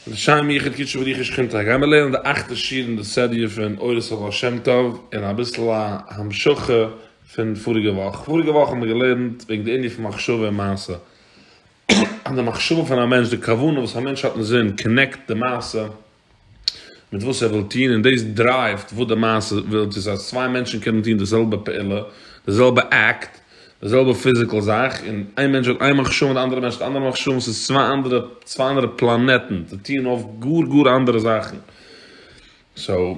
לשם יחוד קודשו בריחו שכינתו גייען מיר לערנען די אכטע שיעור אין די סעריע פון אורות הבעל שם טוב און אביסל א המשכה פון פאריגע וואך, פאריגע וואך האבן מיר געלערנט וועגן די ענין פון מחשבה און מעשה אז די מחשבה פון א מענטש, די כוונה וואס א מענטש האט אין זין קאנעקט די מעשה מיט וואס ער וויל טון און דאס דרייווט וואס די מעשה וויל טון, ס'הייסט צוויי מענטשן קענען טון די זעלבע פעולה, די זעלבע עקט, די זעלבע פיזיקעל זאך, און איין מענטש האט איין מחשבה און די אנדערע מענטש האט אנדערע מחשבות, ס'איז צוויי אנדערע, צוויי אנדערע פלאנעטן, די טוען אויף גאר גאר אנדערע זאכן. סאו,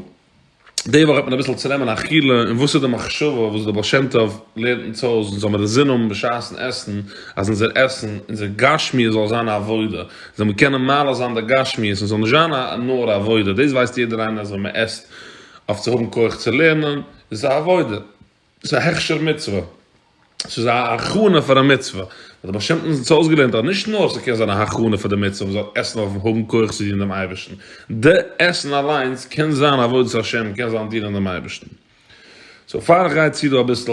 די וואך וועט מען אביסל צונעמען א חילול אין וואס איז די מחשבה וואס דער בעל שם טוב לערנט אונז אויס אונז זאל מיר א זין האבן בשעת'ן עסן, אז אונזער עסן, אונזער גשמיות זאל זיין א עבודה, זאל מען קענען מעלה זיין די גשמיות און ס'זאל נישט זיין א נאר א עבודה, דאס ווייסט יעדער איינער אז ווען מען עסט אויף צו האבן כח צו לערנען, איז עס א עבודה. ס'איז א הכשר מצוה, ס'איז א הכנה פאר א מצוה, האט דער בעל שם טוב זצל אויסגעלערנט אז נישט נאר ס'קען זיין א הכנה פאר די מצוה, מ'זאל עסן אויף האבן כח צו דינען דעם אייבערשטן, די עסן אליינס קען זיין עבודת השם, קען זיין דינען דעם אייבערשטן. סאו פאר איך גיי צו דא אביסל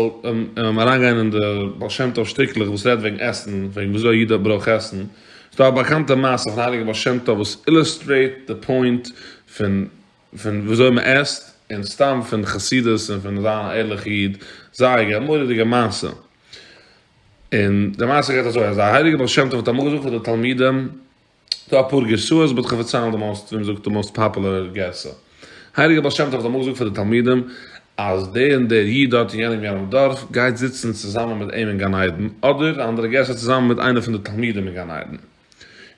אריינגיין אין די בעל שם טוב שטיקלעך וואס רעדט וועגן עסן, וועגן ווי אזוי א איד ברויך עסן, איז דא א באקאנטע מעשה פון הייליגער בעל שם טוב וואס אילוסטרעיט די פוינט פון פון וויאזוי מען עסט, און סתם פון חסידות און פון זיין א ערליכע איד, זייער א מורא'דיגע מעשה. און די מעשה גייט אזוי, אז די הייליגע בעל שם טוב האט אמאל געזאגט פאר די תלמידים, דא אפאר גרסאות באט כ'פארציילן די מאוסט, ווי מ'זאגט די מאוסט פאפולער גרסא. הייליגע בעל שם טוב האט אמאל געזאגט פאר די תלמידים, אז דער און דער איד דארט אין יענעם יענעם דארף, גייט זיצן צוזאמען מיט אים אין גן עדן, אדער א אנדערע גרסא צוזאמען מיט איינער פון די תלמידים אין גן עדן.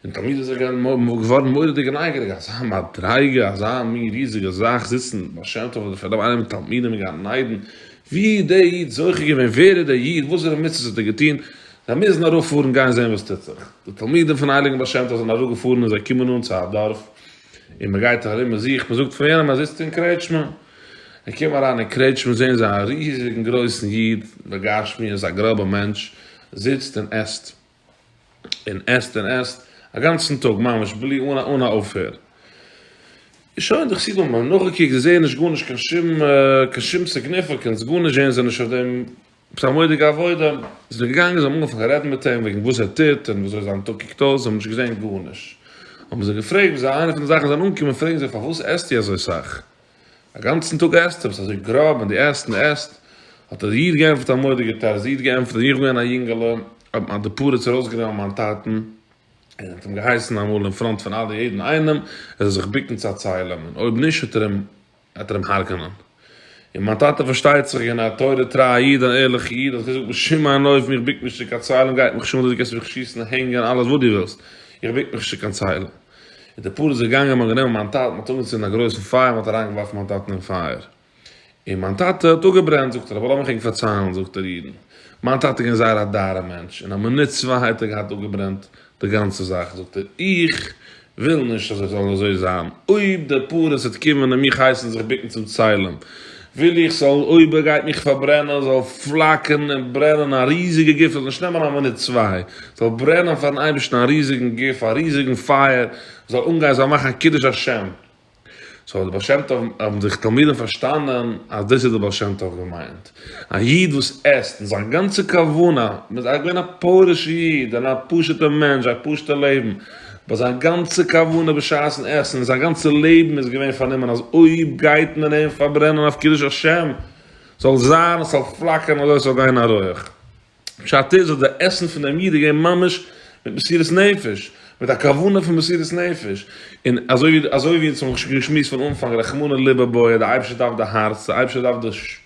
און תמיד איז ער געווארן מורא'דיג נייגעריג, אזא מדריגה, אזא מין ריזיגע זאך זיצן בעל שם טוב אדער פארדעם איינער מיט תלמידים אין גן עדן, ווי איז דער איד זוכה געווען, ווער איז דער איד, וואסערע מצוות האט ער געטון, זיי מוזן ארויף פארן גיין זען וואס טוט זיך, די תלמידים פון הייליגן בעל שם טוב זענען אראפ געפארן און זיי קומען אן צו א דארף, און מען גייט ארום מען זוכט, מען זאגט פון וועמען, ער זיצט אין קרעטשמע, זיי קומען אריין אין קרעטשמע זען זיי א ריזיגן גרויסן איד בגשמיות, א גראבע מענטש, זיצט און עסט. און עסט און עסט א גאנצן טאג ממש בלי אן אן א אויפהער. שוין די חסידים האבן נאכגעקוקט זיי זעען נישט גארנישט קיין שום קיין שום סיגניפיקענס גארנישט זעען זיי נישט אויף דעם עפעס א מודיגע עבודה זענען געגאנגען זיי האבן אנגעפאנגען צו רעדן מיט אים וועגן וואס ער טוט און וויאזוי זיין טאג קוקט אויס זיי האבן נישט געזען גארנישט האבן זיי געפרעגט וואס איינע פון די זאכן זיי זענען אנגעקומען פרעגן זיי פארוואס עסטו אזוי סאך? אַ גאַנצן טאָג עסט ער, װאָס אַזױ גראָב, און דו עסט און עסט! האָט דער ייִד געענטפֿערט, אַ מודיק געטאַ רז ייִד געענטפֿערט, װי איך בין געװען אַ ייִנגעלע, האָט מײַן די פּרץ אַרױסגענומען מײַן טאַטן און האָט אים געהײסן אַ מאָל אין פֿראָנט פֿון אַלע יעדן אײנעם, ער זאָל זיך בוקן צו צײלען, און אױב נישט, װעט ער אים, װעט ער אים הרגענען. און מײַן טאַטע, פֿאַרשטײט זיך, געװען אַ תּורה-טרײַ ייִד, אַן ערלעכער ייִד, האָט געזאָגט, בשום אין אױפֿן, איך בוק מיך נישט צו קײן צײלען, גײט מיך שמו, דו קענסט מיך שיסן און הענגען, אַלעס װאָס דו װילסט, איך בוק מיך נישט צו קײן צײלען! און די פאר איז געגאנגען און מ'האט גענומען מיין טאטן, מ'האט אנגעצינדן א גרויסן פייער, מ'האט אריינגעווארפן מיין טאטן אין פייער, און מיין טאטע האט אפגעברענט, זאגט ער, אבער לאמיך ענק פארציילן, זאגט ער אידן, מיין טאטע איז געווען זייער א דארער מענטש, אין א מינוט צוויי האט ער געהאט אפגעברענט די גאנצע זאך, זאגט ער, איך וויל נישט אז איך זאל אזוי זיין, אויב די פאר איז וועט קומען און מיך הייסן זיך בוקן צום צלם, וויל איך ס'זאל אויב ער גייט מיך פארברענען זאל פלאקערן און ברענען א ריזיגע גוף, ס'זאל נישט נעמען א מינוט צוויי, ס'זאל ברענען פארן אייבערשטן א ריזיגן גוף, א ריזיגן פייער, ס'זאל אנגיין, ס'זאל מאכן א קידוש השם. סאו די בעל שם טוב האבן זיך תלמידים פארשטאנען אז דאס איז די בעל שם טוב געמיינט, א איד וואס עסט און זיין גאנצע כוונה, מ'איז געווען א פרוש איד, און א פשוט'ע מענטש, א פשוט'ע לעבן, באט זיין גאנצע כוונה בשעת'ן עסן און זיין גאנצע לעבן איז געווען פארנומען אז אויב גייט מען אים פארברענען אויף קידוש השם זאל זיין עס זאל פלאקערן אזוי עס זאל גיין א רויעך. פשט איז אז די עסן פון דעם איד איז געווען ממש מיט מסירת נפש, מיט א כוונה פון מסירת נפש, און אזוי ווי אזוי ווי אונז האבן געשמועסט פון אנפאנג רחמנא לב הבעיה, די אייבערשטער דארף די הארץ, די אייבערשטער דארף די.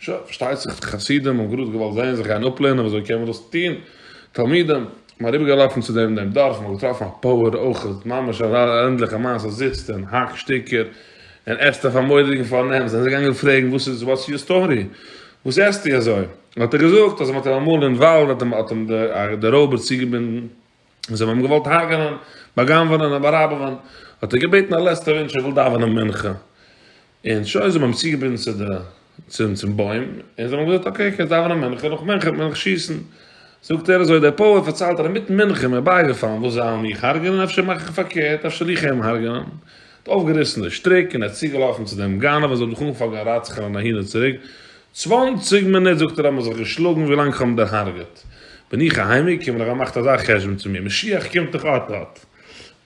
שוין, פארשטייט זיך די חסידים האבן גראד געוואלט זען זיך גיין אפלערנען ווי אזוי קען מען דאס טון, תלמידים, מ'איז אריבער געלאפן צו דעם און דעם דארף, מ'האט געטראפן א פאוער אויכעט, ממש א ערנדליכע מעשה, זיצט און האקט שטיקער, און עסט אויף א מורא'דיגן פארנעם, זענען זיי געגאנגען פרעגן וואס איז, וואטס יור סטארי, וואס עסטו אזוי, האט ער געזאגט אז מ'האט אים אמאל אין וואלד האט אים די רויבער צוגעבינדן, און זיי האבן אים געוואלט הרג'נען, בא'גנב'ענען און בא'ראבעווען, האט ער געבעטן א לעצטע וואונטש ער וויל דאווענען מנחה, און שוין, זיי האבן אים צוגעבינדן צו די, צום, צום בוים, און זיי האבן אים געזאגט אקעי קענסט דאווענען מנחה, נאך מנחה וועט מען דיך שיסן, זאגט ער אזוי דער פויער פארציילט ער אינמיטן מנחה איז מיר בייגעפאלן וואס זיי וועלן מיך הרג'נען, אפשר מאך איך פארקערט, אפשר זיך אים הרג'נען. האט אויפגעריסן די שטריק און ער איז צוגעלאפן צו דעם גנב און זיי האבן זיך אנגעפאנגען רצח'ענען אהין און צוריק, צוואנציג מינוט זאגט ער האבן מיר זיך געשלאגן ווי לאנג כ'האב אים דערהארגעט בין איך אהיימגעקומען, איך האב געמאכט אזא חשבון צו מיר, משיח קומט דאך אט אט,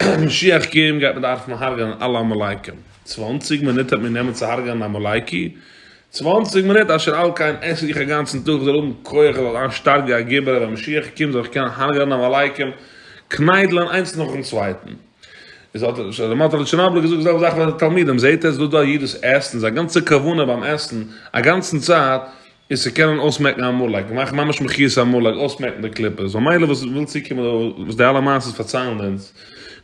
אויב משיח קומט גייט מען דארפן הרג'ענען אלע עמלקים, צוואנציג מינוט וועט מיר נעמען צו הרג'ענען עמלקי? צוואנציג מינוט? אשר על כן עס איך אגאנצן טאג, איך זאל האבן כח, איך זאל זיין שטארק ווי א גיבור, אז ווען משיח קומט זאל איך קענען הרג'ענען עמלקים, קניידלען איינס נאכן צווייטן. איז האט ער דערמאנט אז לשונו האט ער געזאגט די זעלבע זאך פאר די תלמידים, זעהט עטס דא דא א איד וואס עסט און זיין גאנצע כוונה ביים עסן א גאנצן צייט איז צו קענען אויסמעקן א מאלק, מאכן ממש מחיית המאלק, אויסמעקן די קליפה, סאו מילא וואס וויל צוקומען וואס די אלע מעשיות פארציילן אונז,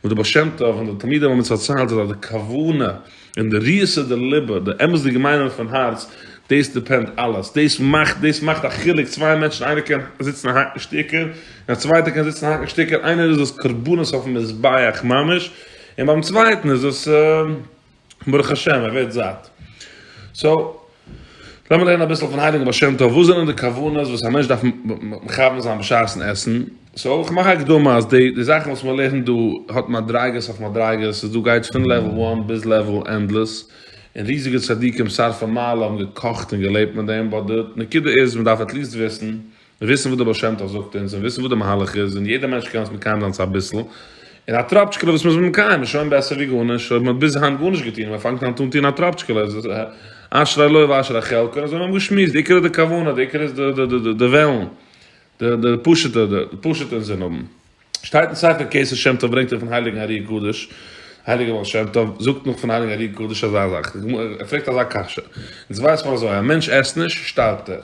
וואס די בעל שם טוב און די תלמידים האבן אונז פארציילט איז אז די כוונה. און די ריסע, די ליבע, די אמת'דיגע מיינונג פון הארץ, דאס דיפענד אלעס, דאס מאכט, דאס מאכט א חילוק, צוויי מענטשן, איינער קען זיצן און האקן שטיקער, און א צווייטער קען זיצן און האקן שטיקער, איינער איז עס קרבנות אויפן מזבח ממש, און ביים צווייטן איז עס ברוך השם, ער ווערט זאט. סאו. לאמיר לערנען אביסל פון הייליגן בעל שם טוב, וואס זענען די כוונות וואס א מענטש דארף מכוון זיין בשעת'ן עסן, סאו איך מאך א הקדמה אז די די זאכן וואס מען לערנט דא האט מדריגות אויף מדריגות, ס'איז דא גייט פון לעוועל וואן ביז לעוועל ענדלעס, און ריזיגע צדיקים שרפי מעלה האבן געקאכט און געלעבט מיט דעם, באט די נקודה איז מען דארף עטליעסט וויסן וויסן וואס דער בעל שם טוב זאגט אונז און וויסן וואס דער מהלך איז און יעדער מענטש קען עס מקיים זיין צו אביסל און א טראפטשקעלע וואס מ'איז מקיים איז שוין בעסער ווי גארנישט אויב מ'האט ביז היינט גארנישט געטון און מ'פאנגט אן טון טון א טראפטשקעלע איז עס אשרי לו ואשרי חלקו און אזוי האבן מיר געשמועסט די עיקר איז די כוונה די עיקר איז די די די די וועלן די די פשוטע די פשוטע אינזין האבן. שטייט אין ספר כסא שם טוב ברענגט ער פון הייליגן אר י קדוש, הייליגער בעל שם טוב זאגט נאך פון הייליגן אר י קדוש אזא זאך, ער פרעגט אזא קשיא, אונז ווייסט מען אזוי, א מענטש עסט נישט, שטארבט ער,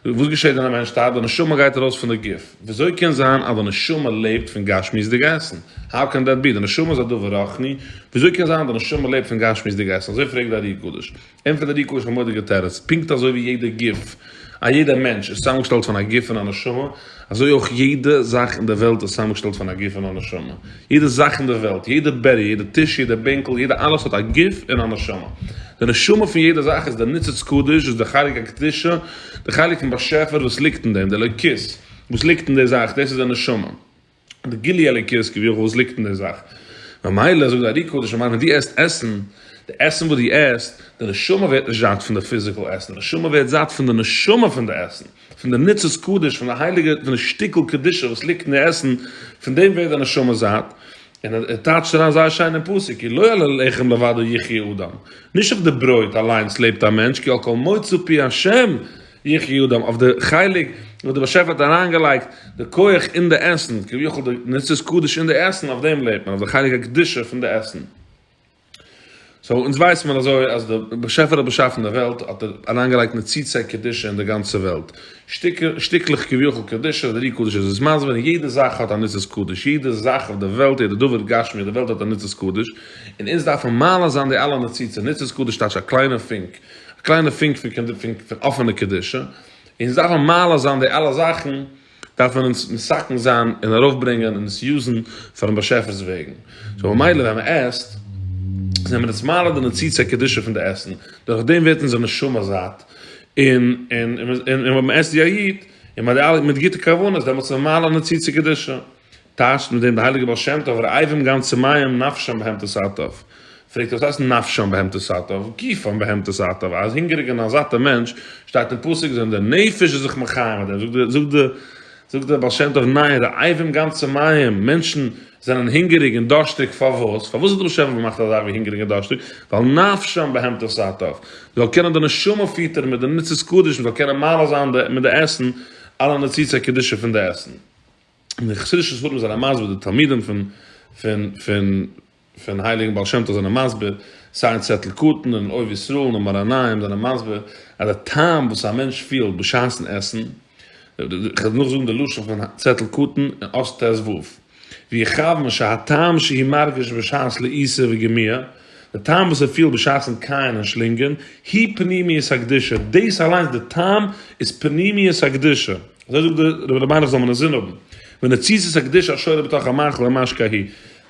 וואס געשעט ווען א מענטש שטארבט, די נשמה גייט ארויס פון די גוף, וויאזוי קען זיין אז די נשמה לעבט פון גשמיות'דיג עסן, האו קען דעט בי, די נשמה איז א דבר רוחני, וויאזוי קען זיין אז די נשמה לעבט פון גשמיות'דיג עסן, אזוי פרעגט די אר י קדוש. אין פעדעריקו איז א מורא'דיגע תירוץ, פונקט אזוי ווי יעדע גוף, א יעדע מענטש איז צוזאמגעשטעלט פון א גוף און א נשמה, אזוי אויך יעדע זאך אין דער וועלט איז צוזאמגעשטעלט פון א גוף און א נשמה. יעדע זאך אין דער וועלט, יעדע בעריער, יעדע טיש, יעדע בענקל, יעדע אלעס האט א גוף און א נשמה. די נשמה פון יעדע זאך איז דער ניצוץ קדוש, איז דער חלק הקדושה, דער חלק פון באשעפער וואס ליגט אין דעם, דער אלוקית וואס ליגט אין דער זאך, דאס איז דער נשמה. די גילי אלוקית כביכול וואס ליגט אין די זאך, ממילא זאגט די ארי קדוש אמר ווען דו עסט עסן, די עסן וואס דו עסט, די נשמה ווערט נישט זאט פון די פיזיקעל עסן, די נשמה ווערט זאט פון די נשמה פון די עסן, פון די ניצוץ קדוש, פון די הייליגע, פון די שטיקל קדושה וואס ליגט אין די עסן, פון דעם ווערט די נשמה זאט, און ער טייטשט אריין זייער שיין אין פסוק, כי לא על הלחם לבדו יחיה אדם, נישט אויף די ברויט אליינס לעבט א מענטש, כי על כל מוצא פי השם יחי אדם, אויף די חלק וואס די באשעפער האט אריינגעלייגט די כח אין די עסן, כביכול די נצחת קדוש אין די עסן, אויף דעם לעבט מען, אויף די חלק הקדושה פון די עסן. סאו אונז ווייסט מען אזוי אז די באשעפער האט באשאפן די וועלט האט ער אריינגעלייגט נצוצי קדושה אין די גאנצע וועלט, שטיקלעך כביכול קדושה, די רי קדוש איז עס מסביר, און יעדע זאך האט א נצחת קדוש, יעדע זאך אויף די וועלט, יעדע דבר גשמי אויף די וועלט האט א נצחת קדוש, און אונז דארפן מעלה זיין די אלע נצוצות, נצחת קדוש טייטש א קליינע פונק, א קליינע פונק פון אפענע קדושה, און ס'דארף א מעלה זיין די אלע זאכן, דארף מען אונז מסכן זיין און ארויפברענגען און עס יוזן פארן באשעפער'ס וועגן, סאו ממילא ווען מען עסט, זענען מיר אונז מעלה די ניצוץ הקדושה פון די עסן, דורך דעם ווערט אונזער נשמה זאט, און ווען מען עסט ווי א איד, און מיט גוטע כוונות, דעמאלטס איז מעלה ניצוץ הקדושה. טייטשט מיט דעם דער הייליגער בעל שם טוב, רעבים גן צמאים נפשם בהמתו סאטוב. פרעגט ער וואס הייסט נפשם בהמתו סאטוב, גופם בהמתו סאטוב, אז הונגעריגע און א זאטע מענטש, שטייט אין פסוק זענען די נפש איז זיך מחיה מיט דעם, זאגט די זאגט דער בעל שם טוב ניין רעבים גן צמאים, מענטשן זענען הונגעריג און דארשטיג פארוואס? פארוואס האט דער בעל שם טוב געמאכט א זאך ווי הונגעריג און דארשטיג? ווייל נפשם בהמתו סאטוב, זאל קענען די נשמה פיטערן מיט די ניצוץ קדש, מ'זאל קענען מעלה זיין מיט די עסן, אלע ניצוצי קדושה פון די עסן. און די חסידישע ספרים זענען מסביר די תלמידים פון פון פון פון הייליגן בעל שם טוב זענען מסביר סיי אין צעטל קטן און אוהב ישראל און מרניים זענען מסביר אז די טעם וואס א מענטש פילט בשעת'ן עסן, איך וועל נאכזאגן די לשון פון צעטל קטן אין אות ת ו, ווי איך האב משהטעם שהיא מרגיש בשעת לעיסה וגמיעה, די טעם וואס ער פילט בשעת'ן קייען און שלינגען, היא פנימיות הקדושה, דאס אליינס די טעם איז פנימיות הקדושה, אזוי זאגט דער רבי רבי מיינעך זאל מען אינזין האבן, ונציות הקדושה השורה בתוך המאכל ממש כהי',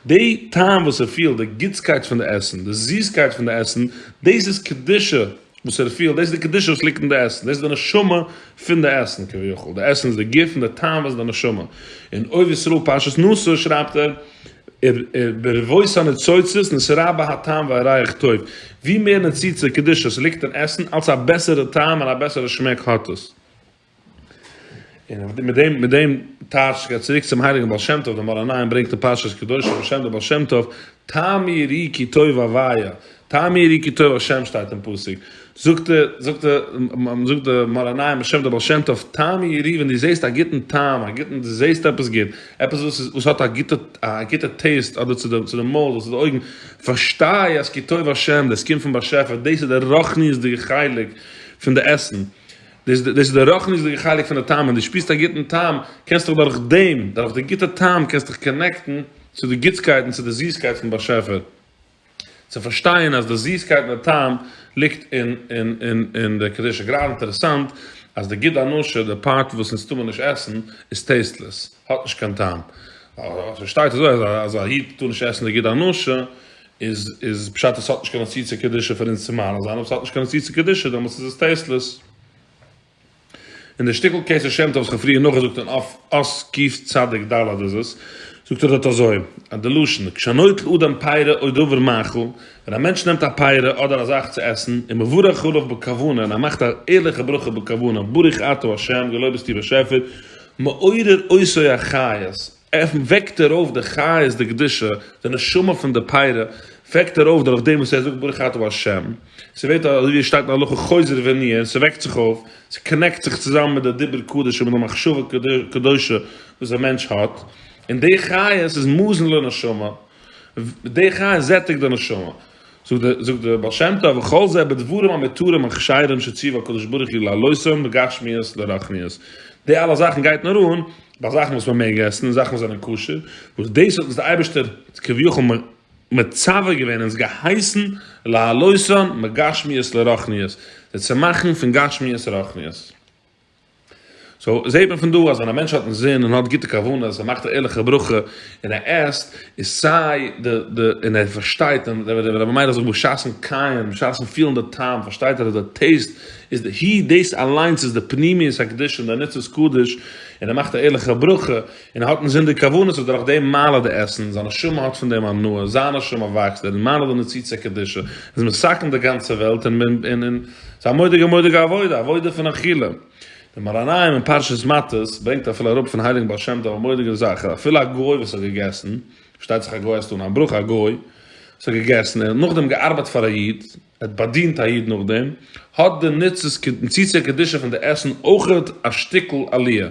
די טעם וואס ער פילט, די גוטסקייט פון די עסן, די זיסקייט פון די עסן, דאס איז קדושה. וואס ער פילט, דאס איז די קדושה וואס ליגט אין די עסן, דאס איז די נשמה פון די עסן כביכול, די עסן איז די גוף און די טעם איז די נשמה, אין אוהב ישראל פרשת נשא שרייבט ער, ברבות הניצוצות נשרה בה הטעם והריח טוב, ווי מער ניצוצות קדושה ס'ליגט אין עסן, אלץ א בעסערע טעם און א בעסערע שמעק האט עס. און מיט דעם מיט דעם טייטש גייט צוריק צום הייליגן בעל שם טוב דער מאור עיניים ברענגט אין פרשת קדושים בשם דער בעל שם טוב טעמי רי כי טוב אביי טעמי רי כי טוב השם שטייט אין פסוק זאגט דער זאגט דער זאגט דער מאור עיניים בשם דער בעל שם טוב טעמי רי ווען דו זעסט א גוטן טעם א גוטן דו זעסט עפעס גוט עפעס וואס איז וואס האט א גוטע א גוטע טעיסט אדער צו די צו די מויל אדער צו די אויגן פארשטיי אז כי טוב השם דאס קומט פון באשעפער דאס איז דער רוחניות'דיגע חלק פון די עסן דאס דאס איז די רוחניות'דיגע חלק פון די טעם, ווען דו שפירסט א גוטן טעם, קענסטו דיך דורך דעם, דורך די גוטע טעם קענסטו דיך קאנעקטן צו די גוטסקייט און צו די זיסקייט פון באשעפער, צו פארשטיין אז די זיסקייט און די טעם ליגט אין אין אין אין די קדושה, גראדע אינטערעסאנט אז די גוד הנשה, די פארט וואס אונז טאר מען נישט עסן, איז טעיסטלעס, האט נישט קיין טעם, ס'שטייט אזוי אז א איד טאר נישט עסן די גוד הנשה, איז איז פשט אז ס'האט נישט קיין אסיצה קדישא פאר אונז צו מנוס זיין, אויב ס'האט נישט קיין אסיצה קדישא דעמאלטס איז עס טעיסטלעס. און די שטיקל כ ס ה שם טוב וואס כ'האב פריער נאכגעזאגט אין אויף אס ק צדיק ד איז עס, זאגט ער דארט אזוי, אז די לשון, כשנוטל אדם פירה או דבר מאכל, ווען א מענטש נעמט א פירה אדער א זאך צו עסן, און מברך עליו בכוונה, און ער מאכט א ערליכע ברכה בכוונה, ברוך אתה ה', געלויבסטו באשעפער, מעורר אויסוי החיות, ער וועקט ער אויף די חיות דקדושה, די נשמה פון די פרה, וועקט ער אויף דורך דעם וואס ער זאגט ברוך אתה ה', ס'ווערט אזוי ווי עס שטייט אין הלכה חוזר ונהיה, און ס'וועקט זיך אויף, ס'קאנעקט זיך צוזאמען מיט די דיבור קדוש און מיט די מחשבה קדושה וואס א מענטש האט, און די חיות איז מזון לנשמה, די חיות זעטיגט די נשמה. זאגט דער בעל שם טוב וכל זה בדברים המותרים און כשרים שציוו הקדוש ברוך הוא לעלותם בגשמיות לרחניות, די אלע זאכן גייט נאר אן ביי זאכן וואס מען מעג עסן און זאכן וואס זענען כשר, וואס דאס האט אונז דער אייבערשטער כביכול מצווה געווען אונז געהייסן לעלותם מגשמיות לרחניות, זיי צו מאכן פון גשמיות רחניות. סאו זעהט מען פון דא אז ווען א מענטש האט אינזין און האט גוטע כוונות ער מאכט א ערליכע ברכה און ער עסט איז סיי די די און ער פארשטייט און ווען ווען דער מיידער זאגט בשעת'ן קייען בשעת'ן פילן די טעם פארשטייט ער אז די טעיסט איז די הי דאס אליינס איז די פנימיות הקדושה און די ניצוץ קדוש און ער מאכט א ערליכע ברכה און האט אין זין די כוונות אז דורך דעם מעלה די עסן, זיין נשמה האט פון דעם הנאה, זיין נשמה וואקסט, דער מעלה די נציצי קדושה, איז מסכן די גאנצע וועלט, און ס'איז א מודיגע מודיגע עבודה, א עבודה פון אכילה. דער מאראנאיום אין פרשת מטות ברענגט אפילו אראפ פון הייליגן בעל שם טוב א מודיגע זאך, אז אפילו א גוי וואס האט געגעסן, פארשטייט זיך א גוי הייסט אן א ברכה, א גוי וואס האט געגעסן, און נאכדעם געארבייט פאר א איד, האט באדינט א איד נאכדעם, האט די נוצות קדישא פון די עסן אויכעט א שטיקל עליה,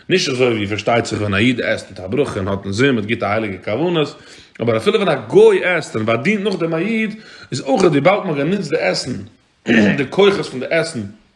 נישט אזוי ווי פארשטייט זיך ווען א איד עסט מיט א ברכה און האט אינזין מיט גוטע הייליגע כוונות, אבער אפילו ווען א גוי עסט און באדינט נאכדעם א איד, איז אויכעט וויבאלד מען האט גענוצט די עסן, די כוחות פון די עסן,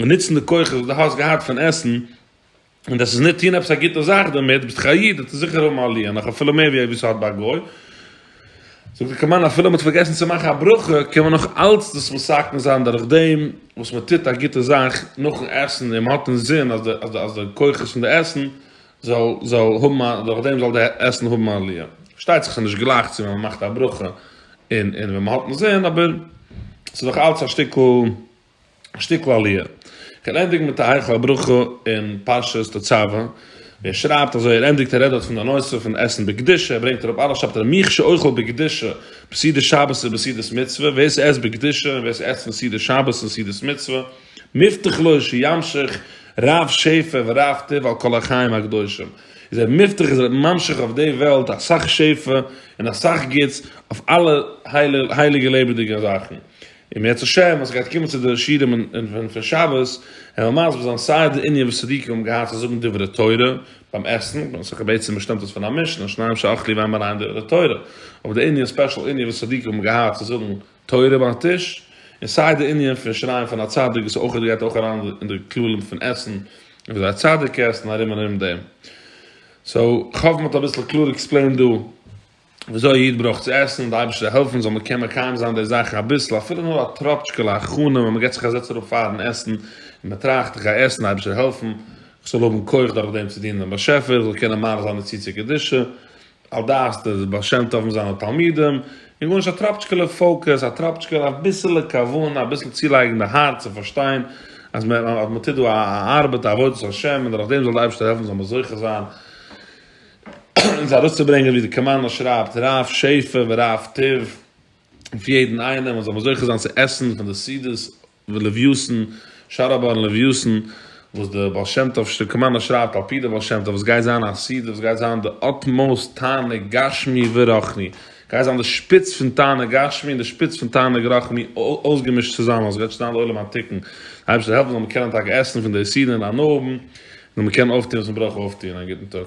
און נוצן די כוחות וואס דו האסט געהאט פון עסן, און דאס איז ניט טון עפעס א גוטע זאך דערמיט, ביסטו א איד, וועסטו זיכער האבן א ליה, נאך אפילו מער ווי וואס ס'האט ביי א גוי. זאגט די קמאן, אפילו מ'האט פארגעסן צו מאכן א ברכה, קען מען נאך אלץ דאס מסכם זיין דורך דעם וואס מ'טוט א גוטע זאך נאכן עסן, און מ'האט אינזין אז די אז די כוחות פון די עסן זאל זאל האבן א דורך דעם זאל די עסן האבן א ליה. פארשטייט זיך ס'איז נישט גלייך צו ווען מ'מאכט א ברכה און און ווען מ'האט אינזין, אבער ס'איז דאך אלץ א שטיקל. א שטיקל עליה. כ'וועל ענדיגן מיט א היכל הברכה אין פרשת תצוה, ווי ער שרייבט אזוי, ער ענדיגט ער רעדט דארט פון די נושא פון עסן בקדושה, ער ברענגט אראפ אלעס שרייבט ער מי שאוכל בקדושה בסעודת שבת ובסעודת מצוה, ווער ס'עסט בקדושה און ווער ס'עסט פון סעודת שבת און סעודת מצוה, מובטח לו שימשיך רב שפע ורב טוב על כל החיים הקדושים, איז ער מובטח איז ער ממשיך אויף די וועלט אסאך שפע און אסאך גוטס אויף אלע הייליגע לעבעדיגע זאכן, אם ירצה השם אז כ'גיי קומען צו די שיעורים און פון שבת און וועל מסביר זיין סיי די ענין וואס צדיקים האבן געהאט צו זאגן דברי תורה ביים עסן, ווייל ס'דאך בעצם באשטאמט עס פון א משנה שניים שאכלו וועמען אריין דברי תורה, אבער די ענין ספעשל ענין וואס צדיקים האבן געהאט צו זאגן תורה ביים טיש, און סיי די ענין פון שרייען פון א צדיק וואס אויך גייט אויך אריין אין די כללים פון עסן און וויאזוי א צדיק עסט און ארום און ארום דעם. סאו כ'האף מ'האט אביסל קלאר עקספלעינד דא וויאזוי א איד ברויך צו עסן, די אייבערשטער זאל העלפן זאל מען קען מקיים זיין די זאכן אביסל, אפילו נאר א טראפטשקעלע הכנה ווען מען געבט זיך א זעץ אראפ פארן עסן, און מען טראכט איך גיי עסן, די אייבערשטער העלפן, איך זאל האבן כח דורך דעם צו דינען דעם באשעפער, איך זאל קענען מאריך זיין די צי צו קדושה, על דעת די בעל שם טוב און זיינע תלמידים, און גארנישט א טראפטשקעלע פאוקעס, א טראפטשקעלע אביסעלע כוונה, אביסל צולייגן די הארץ און פארשטיין אז מען טוט דא א ארבעט א עבודת השם און דורך דעם זאל די אייבערשטער העלפן זאל מען זוכה זיין, אונז ארויסצוברענגען ווי די קאמאנדא שרייבט רב שפע ורב טוב אויף יעדן איינעם אז זאל מען זוכה זיין צו עסן פון די סעודות ולוויות'ן שאר הבאר און לוויות'ן וואס די בעל שם טוב קאמאנדא שרייבט על פי די בעל שם טוב עס גייט זיין א סעודה וואס גייט זיין די אטמאוסט תענוג גשמי ורחני גייט זיין די שפיץ פון תענוג גשמי און די שפיץ פון תענוג רחני אויסגעמישט צוזאמען עס גייט שוין זיין לעולם התיקון די אייבערשטער זאל העלפן אז מען זאל קענען טאקע עסן פון די סעודה אינאיינעם נאר מ'קען אויפטון וואס מ'ברויך אויפטון. א גוטן טאג.